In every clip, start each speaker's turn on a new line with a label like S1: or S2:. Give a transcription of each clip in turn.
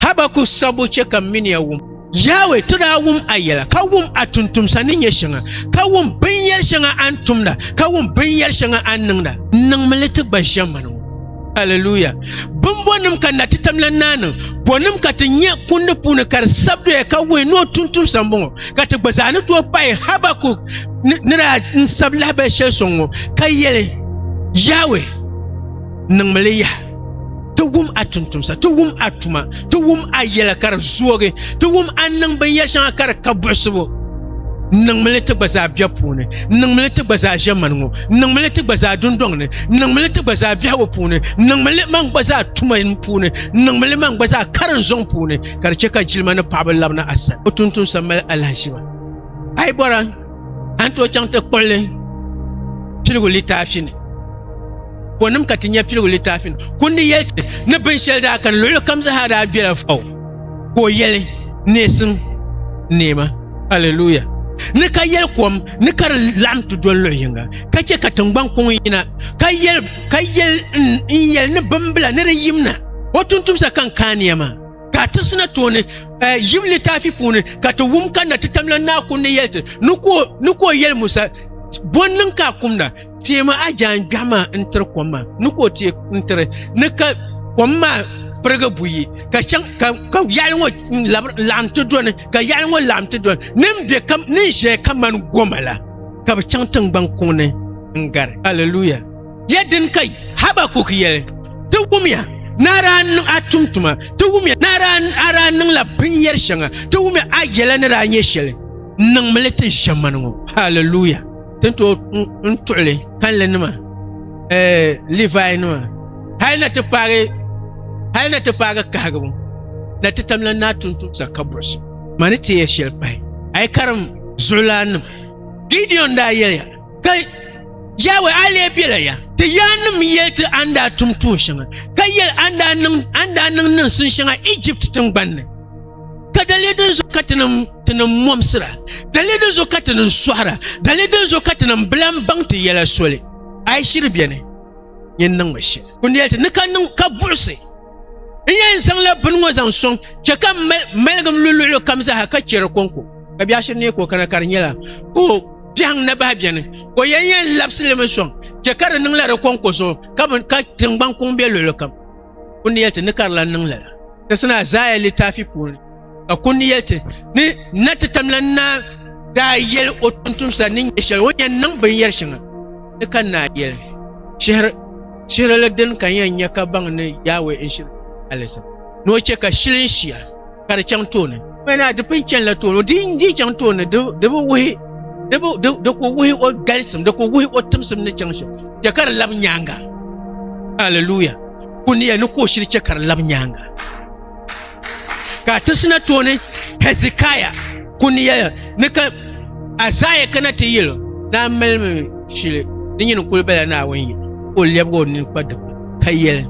S1: Habakuk sabbu chɛ ka m mini ya wum. Yawɛ, ti daa wum a yɛla, ka wum a tuntumsa ni nyɛ shɛŋa, ka wum binyɛr shɛŋa a ni tumda, ka wum binyɛr shɛŋa a ni niŋda. N niŋmi li ti gba ʒiɛmani ŋɔ. Aleluya! Bimbɔnim ka Natitamlan naa niŋ? Bɔnim ka ti nya kundi puuni ka di sabi doya ka wuhi ni o tuntumsa m-bɔŋɔ, ka ti gba zaa ni tooi pahi Habakuk ni daa n-sab lahibal shɛli sɔŋ ŋɔ, ka yɛli, Yawɛ, niŋmi li yaha. ti wum a tuntumsa ti wum a tuma ti wum a yɛla ka di zoogi ti wum a niŋ binyɛri shɛŋa ka di ka buɣisibu niŋmili ti gba zaa biɛ puuni niŋmili ti gba zaa ʒɛ mani ŋɔ niŋmili ti gba zaa dundɔŋ ni niŋmili ti gba zaa biɛhigu puuni niŋmili man gba zaa tuma puuni niŋmili man gba zaa karin zɔŋ puuni ka di chɛ ka jilima ni paɣaba labina a sani o tuntumsa mali alahiʒiba a yi bɔra a ni tooi chaŋ ti kpuɣi li piligu litaafi ni ko nim ka ti nyɛ piligu litaafi ni kundi yɛli ti ni binshɛli daa kani luɣuli kam zaa daa bela faw ka o yɛli neesim neema haleluya ni ka yɛli kom ni ka di laɣim ti doli luɣi yinga ka chɛ ka tiŋgbani kuŋ yina ka yɛli ka yɛli n yɛli ni bimbila ni di yimna o tuntumsa ka n kaaniya maa ka ti sina tooni eh, yim littafi puuni ka ti wum ka na ti tamla naa kun ni yɛli ti ni ko yɛli musa bɔn niŋ ka a kumda teema a jaan gbɛɣu maa n tiri kom maa ni ko tee n tiri ni ka kom maa pirigi buyi ka chaŋ ka ka yaɣali ŋɔ laɣam ti doni ka yaɣali ŋɔ laɣam ti doni ni n bɛ ka ni n ʒɛya ka mani goma la ka bi chaŋ tingbani kuŋ ni n gari aleluya Yɛ din ka Habakuk yɛli, Ti wumya ni a daa niŋ a tumtuma, ti wumya ni a daa niŋla binyɛr shɛŋa, ti wumya a yɛla ni daa nyɛ shɛli, niŋmi li ti ʒiɛmani ŋɔ. Hallelujah! Ti ni tooi n tuɣili kanlinima, eh, Livainima, hal na ti paagi, hal na ti paagi kahigibu, na ti tam la naa tuntumsa ka buɣisi ma ni ti yɛ shɛli pahi. A yi karim zuɣulaannima, Gideon daa yɛliya, ka yawɛ a lee bela ya ti yaannim yɛli ti a ni daa tum tuun shɛŋa ka yɛli a ni daa niŋ niŋsim shɛŋa Ijipt tiŋgbani ni ka daliya din zuɣu ka ti niŋ mɔmsira daliya din zuɣu ka ti niŋ sɔhira daliya din zuɣu ka ti niŋ bilam baŋ ti yɛla soli a yi shiri bɛni yɛn niŋmi shɛli kundɛli ti ni ka niŋ ka buɣisi n yɛn zaŋla bini ŋɔ zaŋ sɔŋ chɛ ka maligim luluɣulu kam zaaha ka chɛ di kɔŋko ka biɛɣu shiri ni ka o kana ka di nyɛla ka o biɛhiŋ na bahi bɛni ka o yɛn yɛn labisi limi sɔŋ chɛ ka di niŋla di kɔŋko zuɣu ka tiŋgbani kuŋ bɛ luɣulu kam o ni yɛli ti ni ka di lan niŋ lala ti sina Azaaya littaafi puuni ka kun yɛli ti ni na ti tamla na daa yɛli o tuntumsa ni nyɛ shɛli o yɛn niŋ binyɛri shɛŋa ni ka naa yɛli shihiri shihiri la din ka yɛn nyɛ ka baŋ ni yaawe n shiri alisa ni o chɛ ka shili n shia ka di chaŋ tooni wɛna di pun chɛnila tooni di n di chaŋ tooni di bi wuhi di bi di di ku wuhi o galisim di ku wuhi o timsim ni chaŋ shɛli chɛ ka di labi nyaanga haleluya kuniya ni ka o shiri chɛ ka di labi nyaanga ka ti sina tooni hezekiah kuni yɛya ni ka azaya kana ti yɛlo daa malimi shili di nyini kuli bala naawuni yɛ ka o lɛbigi o nini kpa dikpuni ka yɛli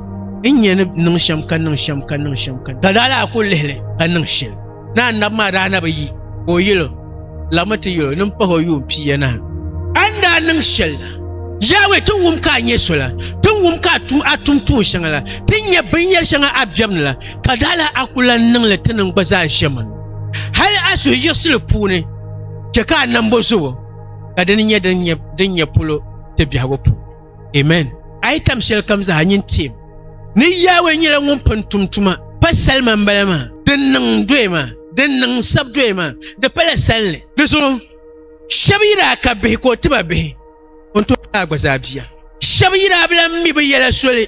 S1: n nyɛ ni niŋ shɛm ka niŋ shɛm ka niŋ shɛm ka ka daa laa kuli lihili ka niŋ shɛli ni annabi maa daa na bi yi ka o yɛlo laɣimi ti yɛl o ni m-pah o yuun pia nahi. A ni daa niŋ shɛli la, Yawɛ, ti ni wum ka a nyɛ so la, ti ni wum ka a tum a tum tuun shɛŋa la, ti ni nya binyɛr shɛŋa a biɛb ni la, ka daa lahi a ku lan niŋ li ti ni n gba zaa ʒe min hal a suhuyiɣisili puuni chɛ ka a nambo zobo, ka di ni nyɛ din nyɛ polo ti biɛhigu puuni. Amen. A yi tam shɛli kam zaa nyin teem ni Yawɛ nyɛla ŋun pun tum tuma pa salima m-bala maa. Din niŋ doya maa, din niŋ sab doya maa, di pala salinli. Di zuɣu shɛb yi daa ka bihi ka o ti ba bihi, o ni tooi kaai gba zaa bia. Shɛb yi daa bi lan mi bi yɛla soli.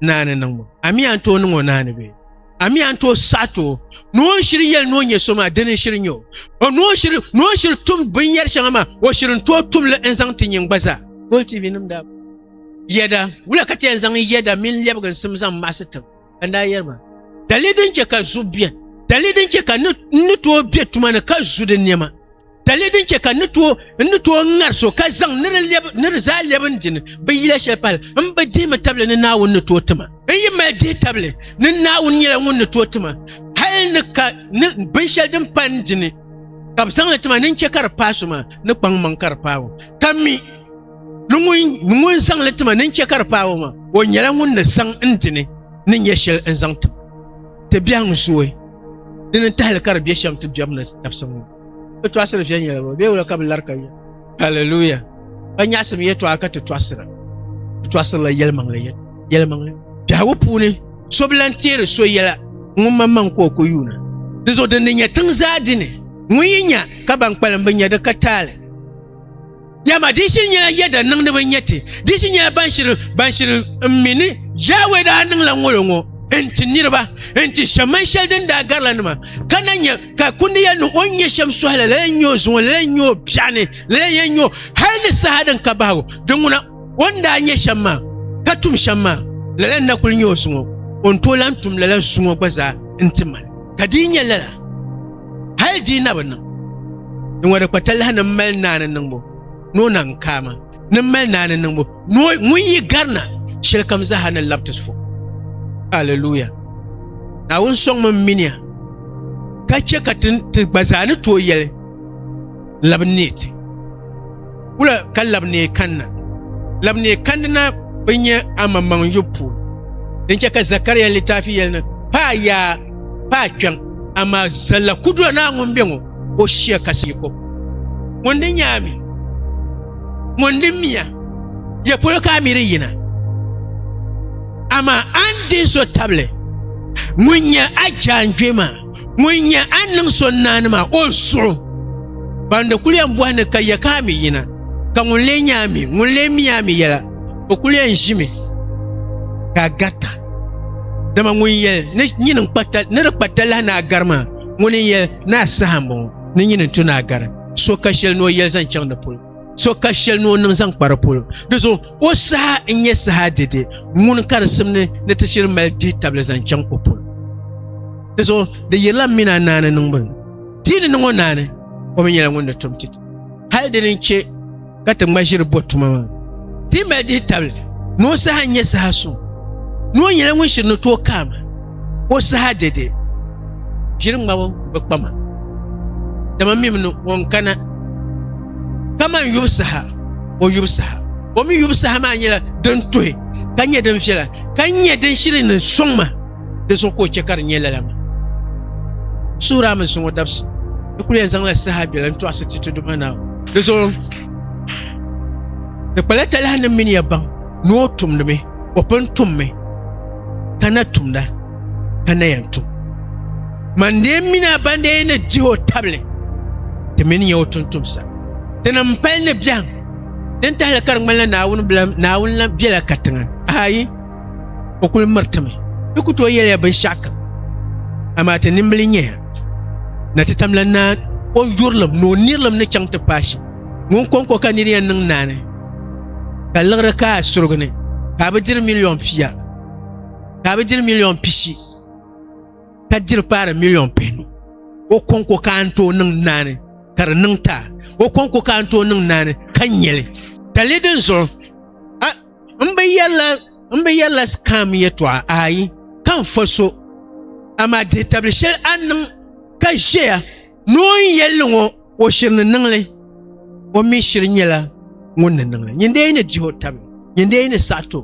S1: naani niŋ ma ami an tooi niŋ o naani bee ami an tooi saɣati o ni o shiri yɛli ni o nyɛ so maa dini shiri nyɛ o ni o shiri ni o shiri tum binyɛri shɛŋa maa o shiri n tooi tumli n zaŋ ti nyin gba zaa gol tv nim daa yɛda wula ka tɛn zaŋ yɛda mini lɛbiginsim zaŋ maɣasi tiŋ ka n daa yɛri ma dali din chɛ ka zu biɛni dali din chɛ ka ni tooi bɛ tuma ni ka zu di niɛma Dali din chɛ ka n ni tooi ŋari so ka zaŋ ni di zaa lɛbi n dini bi yila shɛli pali n bi dihimi tabili ni Naawuni ni tooi tima. N yi mali dihi tabili ni Naawuni nyɛla ŋun ni tooi tima hali ni ka ni binshɛli din pali n dini ka bi zaŋli tima ni n chɛ ka di paai so maa ni kpaŋ maŋ ka di paai o ka mi ni ŋun zaŋli tima ni n chɛ ka di paai o maa o nyɛla ŋun ni zaŋ n dini ni nyɛ shɛli n zaŋ tim ti biɛhiŋ zooi dini tahili ka di bɛ shɛm ti biɛbu ni dabisili ŋɔ. Bɛ tɔɣisiri viɛnyɛla bɔ bee wula ka bɛ lari ka yɛ. Hallelujah. Ka nyaɣisim yɛtɔɣa ka ti tɔɣisira. Bɛ tɔɣisirila yɛlimaŋli yɛlimaŋli. Biɛhigu puuni so bi lan teeri so yɛla ŋun maŋmaŋ ka o ku yuuna. Di zuɣu din ni nya tiŋ zaa dini ŋun yi nya ka ban kpalim bi nya di ka taali. Dama di shiri nyɛla ya da niŋdi bi nyɛ ti, di shiri nyɛla ban shiri ban shiri n mi ni Yawɛ daa niŋla ŋolo ŋɔ n ti niriba n ti shɛm man shɛli din daa garila nima ka na nyɛ ka kundi ya ni o ni nyɛ shɛm sɔhi la lala n nyɛ o zuŋɔ lala n nyɛ o biɛɣu ni lala n yɛn nyɛ o hali ni saha din ka bahigu di ŋuna o ni daa nyɛ shɛm maa ka tum shɛm maa lala n na kuli nyɛ o zuŋɔ o ni tooi lahi tum lala zuŋɔ gba zaa n ti mali ka di yi nyɛ lala Hal di na bi niŋ. Di ŋɔ di kpa talahi ni mali naani niŋbu ni o naŋ kaama ni mali naani niŋbu ni o ŋun yi garina shɛli kam zaha ni labiti so. Hallelujah. Naawuni sɔŋmi miniya ka chɛ ka ti gba zaa ni tooi yɛli labi neei ti wula ka labi neei kanna labi neei kandi na bi nyɛ amaŋmaŋ yu puuni din chɛ ka zakariya litaafi yɛli ni paa yaa paa kpɛŋ amaa zalla kudura naa ŋun bɛ ŋɔ o shia kasi yi kɔpu ŋun di nyɛ ami ŋun di miya yɛ polo ka ami di yina amaa an di so tabili ŋun nyɛ a jaanjɔɛ maa Ŋun nyɛ a ni niŋ so naani maa, o zuɣu. Ban di kuli yɛn bɔhi ni ka yɛ ka a mi yina, ka ŋun lee nyɛ a mi, ŋun lee mi a mi yɛla, o kuli yɛn ʒimi ka a garita. Dama ŋun yɛli ni nyini ni di kpa talahi ni a gari maa, ŋuni n-yɛli ni a saha m-bɔŋɔ ni nyini n-tu ni a gari so ka shɛli ni o yɛli zaŋ chaŋ di polo. so ka shɛli ni o niŋ zaŋ kpari polo di zuɣu o saha n nyɛ saha dede ŋuni ka di simni ni ti shiri mali dihi tabili zaŋ chaŋ o polo di zuɣu di yirila mina naani niŋbuni tii ni niŋɔ naani o mi nyɛla ŋun ni tum titi hali dini n chɛ ka ti ŋma ʒiri bɔ tuma maa ti mali dihi tabili ni o saha n nyɛ saha suŋ ni o nyɛla ŋun shiri ni tooi kaama O saha dɛde, ʒiri ŋmabo bi kpa ma, dama mim ni o ni kana. Kaman yubu saha, o yubu saha, o mi yubu saha maa nyɛla din tuhi ka nyɛ din viɛla, ka nyɛ din shiri ni sɔŋ ma, di zuɣu ka o chɛ ka di nyɛ lala maa. Suhuri a mi zuŋ o dabisi, di kul yɛn zaŋla saha biɛla n-tɔɣisi ti Tudumaanaawuni. Di zuɣu, di kpala talahi ni m mini ya baŋ. ni o tumdimi o pun tummi ka na tumda ka na yɛn tum man dee mini a ban dee ni dihi o tabili ti mini nyɛ o tuntumsa ti ni n pali ni biɛhim din tahili ka di ŋmanila naawuni bila naawuni la biɛla katiŋa ayi o kuli miritimi ti ku tooi yɛliya binshɛɣu kam amaa ti nimbili nyɛya na ti tamla naa o yurilim ni o nirilim ni chaŋ ti paai shɛm ŋun kɔŋko ka niri yɛn niŋ naani ka liɣiri ka a surigi ni ka a bi diri miliyon pia ka a bi diri miliyon pishi ka diri paari miliyon pihinu o kɔŋko ka a ni tooi niŋ naani ka di niŋ ta o kɔŋko ka a ni tooi niŋ naani ka nyɛli ka li din zuɣu n bi yɛrila n bi yɛrila sikam yɛtɔɣa ayi ka n fa so amaa dihi tabili shɛli a ni niŋ ka ʒɛya ni o ni yɛlli ŋɔ O shiri ni niŋ li, o mi shiri nyɛla ŋun ni niŋ li. Nyindee yi ni dihi o tabi, nyindee yi ni saɣi ti o,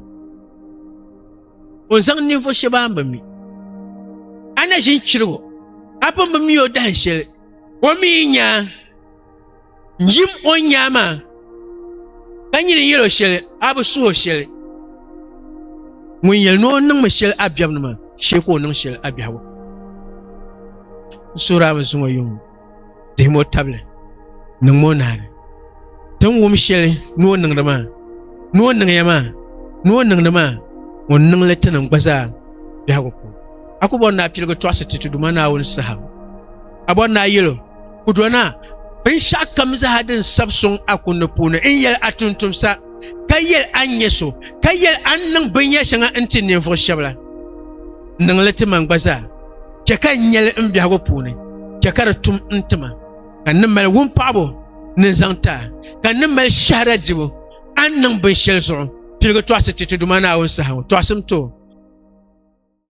S1: o zaŋ ninvuɣ shɛba a ni bi mi. A ni ʒin chirigi o, a pun bi mi o dahin shɛli. O mi yi nya n yim o ni nya maa, ka nyini n yɛl o shɛli, a bi suhi o shɛli. Ŋun yɛli ni o niŋmi shɛli a biɛbuni maa, shee ka o niŋ shɛli a biɛhigu. N suhiri a mi zuŋɔ yuŋ. tihim o tabili niŋ mo naani tin wum shɛli ni o niŋdi maa ni o niŋya maa ni o niŋdi maa o niŋli ti niŋ gba zaa biɛhigu puuni a ku bɔri ni a piligi tɔɣisi ti ti duma naawuni saha a bɔri ni a yɛlo ku do na binshaɣu kam zaa din sabi sɔŋ a kunni puuni n yɛli a tuntumsa ka yɛli a nyɛ so ka yɛli a niŋ binyɛri shɛŋa n ti ninvuɣu shɛbi la niŋli ti man gba zaa chɛ ka n nyɛli n biɛhigu puuni chɛ ka di tum n tima ka n ni mali wumpaɣibu ni zaŋ ta ka n ni mali shɛhira dibu a ni niŋ binshɛli zuɣu piligi tɔɣisi ti ti Duuma Naawuni saha ŋɔ. Tɔɣisim ti o.